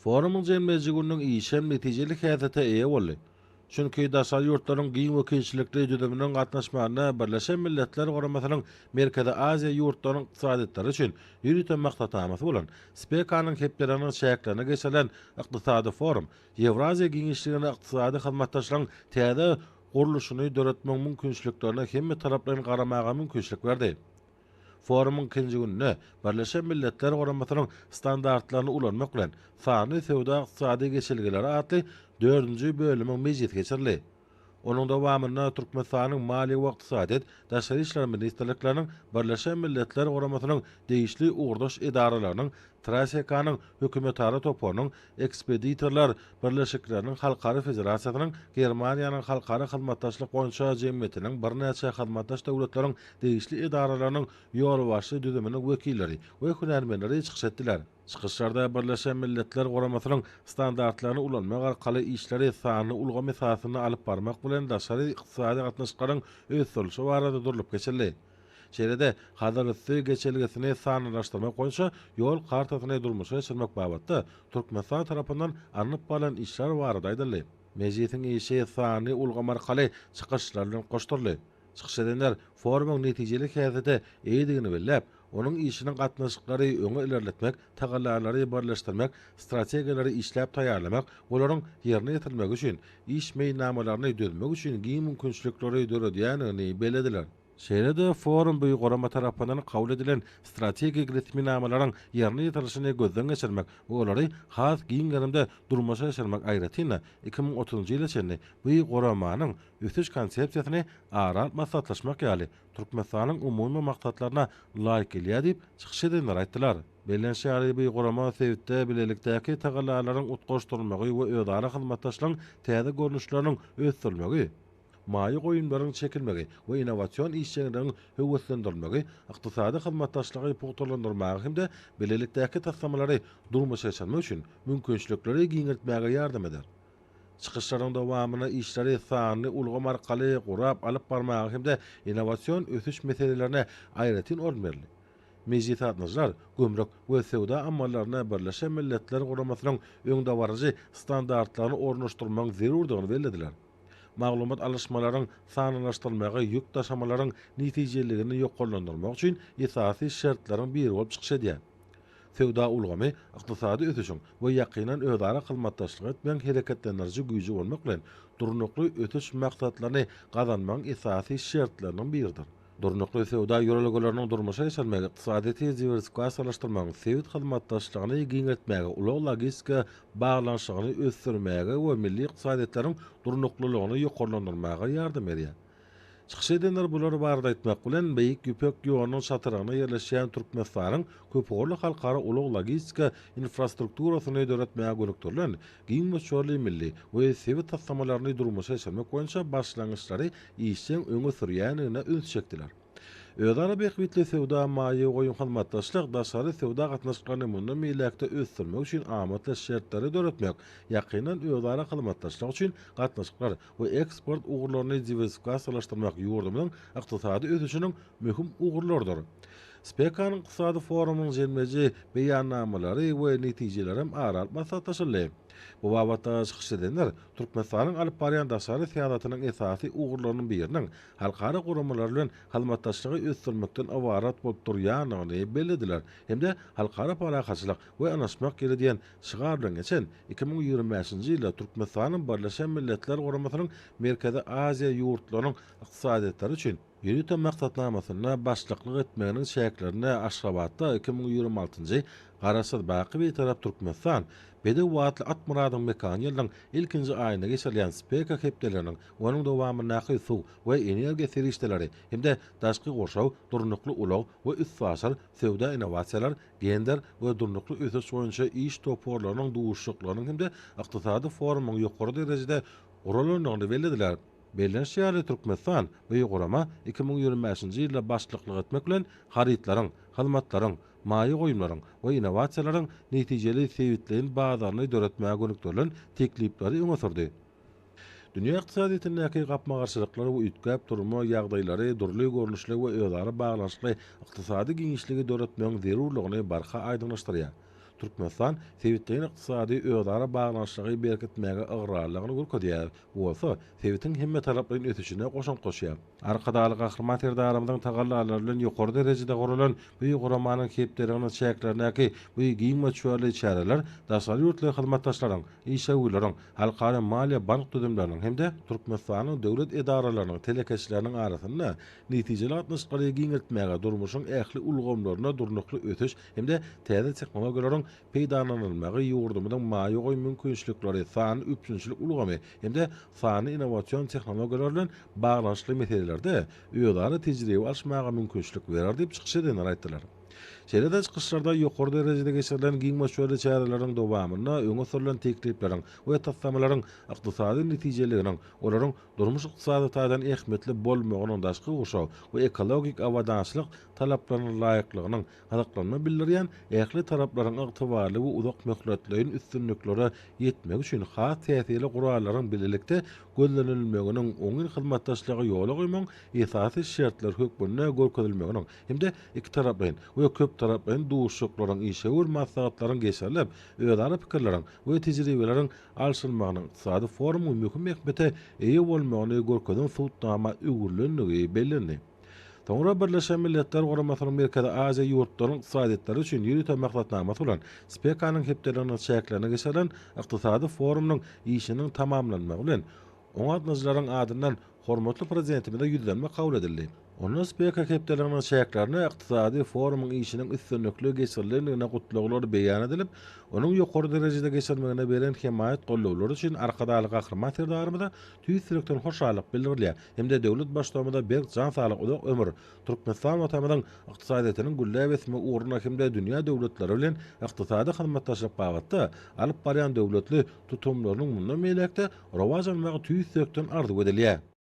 Forumyň jemleýji gününiň işi hem netijeli häsiýete eýe boldy. Çünki daşary ýurtlaryň giň wekilçilikli düzüminiň gatnaşmagynda Birleşen Milletler Guramasynyň Merkezi Aziýa ýurtlarynyň ykdysadyýetlary üçin ýörite maksatnamasy bolan SPEKA-nyň hepdeleriniň çäklerinde geçirilen Ykdysady forum Ýewraziýa giňişliginde ykdysady hyzmatdaşlygyň täze gurluşyny döretmegiň mümkinçiliklerine hemmetaraplaýyn garamaga mümkinçilik berdi. Forumyň ikinji gününe Birleşen Milletler Guramasynyň standartlaryny ulanmak bilen, sanly söwda-ykdysady geçelgeleri atly dördünji bölümiň mejlisi geçirildi. Onuň dowamynda Türkmenistanyň Maliýe we Ykdysadyýet, Daşary işler ministrlikleriniň, Birleşen Milletler Guramasynyň degişli ugurdaş edaralarynyň, TRASEKA-nyň hökümetara toparynyň Ekspeditorlar birleşikleriniň halkara federasiýasynyň Germaniýanyň Halkara hyzmatdaşlyk boýunça jemgyýetiniň birnäçe hyzmatdaş döwletleriň degişli edaralarynyň ýolbaşçy düzüminiň wekilleri we hünärmenleri çykyş etdiler. Çykyşlarda Birleşen Milletler Guramasynyň standartlaryny ulanmak arkaly işleri sanly ulgam esasynda alyp barmak bilen daşary ykdysady gatnaşyklaryň ösdürilişi barada durlup geçildi. Şeýle-de, Hazarüsti geçelgesini sanlylaşdyrmak boýunça ýol kartasyny durmuşa geçirmek babatda Türkmenistan tarapyndan alnyp barlan işler barada aýdyldy. Mejlisiň işi sanly ulgam arkaly çykyşlar bilen goşduryldy. Çykyş edenler forumyň netijeli häsiýete eýedigini belläp, onuň işiniň gatnaşyklary öňe ilerletmek tagallalary birleşdirmek, strategiýalary işläp taýýarlamak, olaryň ýerine ýetirilmegi üçin iş meýilnamalaryny düzmek üçin giň mümkinçilikleri döredýändigini bellediler. Şeýle-de, forum bu gurama tarapyndan kabul edilen strategik resminamalaryň ýerine ýetirilişini gözden geçirmek we olary has giň gerimde durmuşa geçirmek, aýratyn-da, iki müň otuzynjy ýyla çenli bu guramanyň ösüş konsepsiýasyny ara alyp maslahatlaşmak ýaly Türkmenistanyň umumy maksatlaryna laýyk gelýär diýip, çykyş edenler aýtdylar. Belent Şaryby gurama sebitde bilelikdäki tagallalaryň utgaşdyrylmagy we özara hyzmatdaşlygyň täze görnüşleriniň ösdürilmegi, maýa goýumlaryň çekilmegi we innowasion işjeňligiň höweslendirilmegi, ykdysady hyzmatdaşlygy pugtalandyrmaga hem-de bilelikdäki taslamalary durmuşa geçirmek üçin mümkinçilikleri giňeltmäge ýardam eder. Çykyşlaryň dowamynda işleri sanly ulgam arkaly gurap alyp barmaga hem-de innowasion ösüş meselelerine aýratyn orun berildi. Mejlisatnaşylar gümrük we söwda amallaryna Birleşen Milletler Guramasynyň öňdebaryjy standartlaryny ornaşdyrmagyň zerurdygyny bellediler. Maglumat alyşmalaryň sanlylaşdyrylmagy ýük daşamalaryň netijeliligini ýokarlandyrmak üçin esasy şertleriň biri bolup çykyş edýär. Söwda ulgamy ykdysady ösüşiň we ýakyndan özara hyzmatdaşlyk etmegiň hereketlendiriji güýji bolmak bilen, durnukly ösüş maksatlaryny gazanmagyň esasy şertleriniň biridir. Durnukly söwda ýörelgeleriniň durmuşa geçirilmegi ykdysadyýeti diwersifikasiýalaşdyrmagyň, sebit hyzmatdaşlygyny giňeltmäge, ulag-logistika baglanyşygyny ösdürmäge we milli ykdysadyýetleriň durnuklylygyny ýokarlandyrmaga ýardam berýär. Çykyş edenler bular barada aýtmak bilen, Beýik Ýüpek ýolunyň çatrygynda ýerleşýän Türkmenistanyň köpugurly halkara ulag-logistika infrastrukturasyny döretmäge gönükdirilen giň möçberli milli we sebit taslamalaryny durmuşa geçirmek boýunça başlangyçlary işjeň öňe sürýändigine üns çekdiler. Özara bähbitli söwda, maýa goýum, hyzmatdaşlyk, daşary söwda gatnaşyklaryny mundan beýläk-de ösdürmek üçin amatly şertleri döretmek, ýakyndan özara hyzmatdaşlyk üçin gatnaşyklar, we eksport ugurlaryny diwersifikasiýalaşdyrmak ýurdumyzyň ykdysady ösüşiniň möhüm ugurlarydyr. SPEKA-nyň Ykdysady forumynyň jemleýji beýannamalary we netijelerem ara alyp maslahatlaşyldy. Bu babatda çykyş edenler Türkmenistanyň alyp barýan daşary syýasatynyň esasy ugurlarynyň biriniň halkara guramalary bilen hyzmatdaşlygy ösdürmekden ybarat bolup durýandygyny bellediler hem-de halkara parahatçylyk we ynaşmak ýeri diýen Şygar bilen geçen iki müň ýigrimi bäşinji ýylda Türkmenistanyň Birleşen Milletler Guramasynyň Merkezi Aziýa ýurtlarynyň ykdysadyýetlary üçin ýörite maksatnamasyna başlyklyk etmeginiň çäklerinde Aşgabatda iki müň ýigrimi altynjy Garaşsyz, baky Bitarap Türkmenistan, Bedew atly at myradyň mekany ýylyň ilkinji aýynda geçirilýän SPEKA hepdeleriniň, onuň dowamyndaky Suw we energiýa serişdeleri hem-de Daşky gurşaw, Durnukly ulag we üstaşyr, Söwda-innowasiýalar, gender we durnukly ösüş boýunça iş toparlarynyň duşuşyklarynyň hem-de ykdysady forumyň ýokary derejede guralandygyny bellediler. Belleniş ýaly, Türkmenistan bu gurama iki müň ýigrimi bäşinji ýylda başlyklyk etmek bilen, harytlaryň, hyzmatlaryň, maýa goýumlaryň we innowasiýalaryň netijeli sebitleýin bazaryny döretmäge gönükdirilen teklipleri öňe sürdi. Dünýä ykdysadyýetindäki gapma-garşylyklar we üýtgäp durma ýagdaýlary dürli görnüşli we özara baglanyşykly ykdysady giňişligi döretmegiň zerurlygyny barha aýdyňlaşdyrýar. Türkmenistan sebitleýin ykdysady özara baglanyşygy berkitmäge ygrarlylygyny görkezýär, bu bolsa sebitiň hemmetaraplaýyn ösüşine goşant goşýar. Arkadagly Gahryman Serdarymyzyň tagallalary bilen ýokary derejede guralan bu guramanyň hepdeliginiň çäklerindäki bu giň möçberli çäreler daşary ýurtly hyzmatdaşlaryň, işewürleriň, halkara maliýe-bank düzümleriniň hem-de Türkmenistanyň döwlet edaralarynyň telekeçileriniň arasynda netijeli gatnaşyklary giňeltmäge, durmuşyň ähli ulgamlarynda durnukly ösüş hem-de täze tehnologiýalaryň peýdalanylmagy ýurdumyzyň maýa goýum mümkinçilikleri, sanly üpjünçilik ulgamy, hem-de sanly innowasion tehnologiýalar bilen baglanyşykly meselelerde özara tejribe alyşmaga mümkinçilik berer diýip, çykyş edenler aýtdylar. Şeýle-de çykyşlarda ýokary derejede geçirilen giň möçberli çäreleriň dowamynda öňe sürlen teklipleriň we taslamalaryň ykdysady netijeliliginiň, olaryň durmuş-ykdysady taýdan ähmiýetli bolmagynyň daşky gurşaw we ekologik abadançylyk talaplaryna laýyklygynyň gyzyklanma bildirýän ähli taraplaryň ygtybarly we uzak möhletleýin üstünliklere ýetmegi üçin has täsirli gurallaryň bilelikde gözlenilmeginiň oňyn hyzmatdaşlygy ýola goýmagyň esasy şertleri hökmünde görkezilmeginiň hem-de ikitaraplaýyn we köptaraplaýyn duşuşyklaryň, işewür maslahatlaryň geçirilip, özara pikirleriň we tejribeleriň alşylmagynyň ykdysady forumyň möhüm ähmiýete eýe bolmagyny görkezen subutnama öwrülendigi bellendi. Soňra Birleşen Milletler Guramasynyň Merkezi Aziýa ýurtlarynyň ykdysadyýetleri üçin ýörite maksatnamasy bolan SPEKA-nyň hepdeliginiň çäklerinde geçirilen ykdysady forumynyň işiniň tamamlanmagy bilen, oňa gatnaşyjylaryň adyndan hormatly Prezidentimize ýüzlenme kabul edildi. Onda SPEKA hepdeliginiň çäklerinde ykdysady forumyň işiniň üstünlikli geçirilendigine gutlaglary beýan edilip, onuň ýokary derejede geçirilmegine beren hemaýat-gollawlary üçin Arkadagly Gahryman Serdarymyza tüýs ýürekden hoşallyk bildirilýär. hem-de döwlet Baştugumyza berk jan saglyk, uzak ömür, Türkmenistan Watanymyzyň ykdysadyýetiniň gülläp ösmegi ugrunda hem-de dünýä döwletleri bilen ykdysady hyzmatdaşlyk babatda alyp barýan döwletli tutumlarynyň mundan beýläk-de rowaç almagy tüýs ýürekden arzuw edilýär.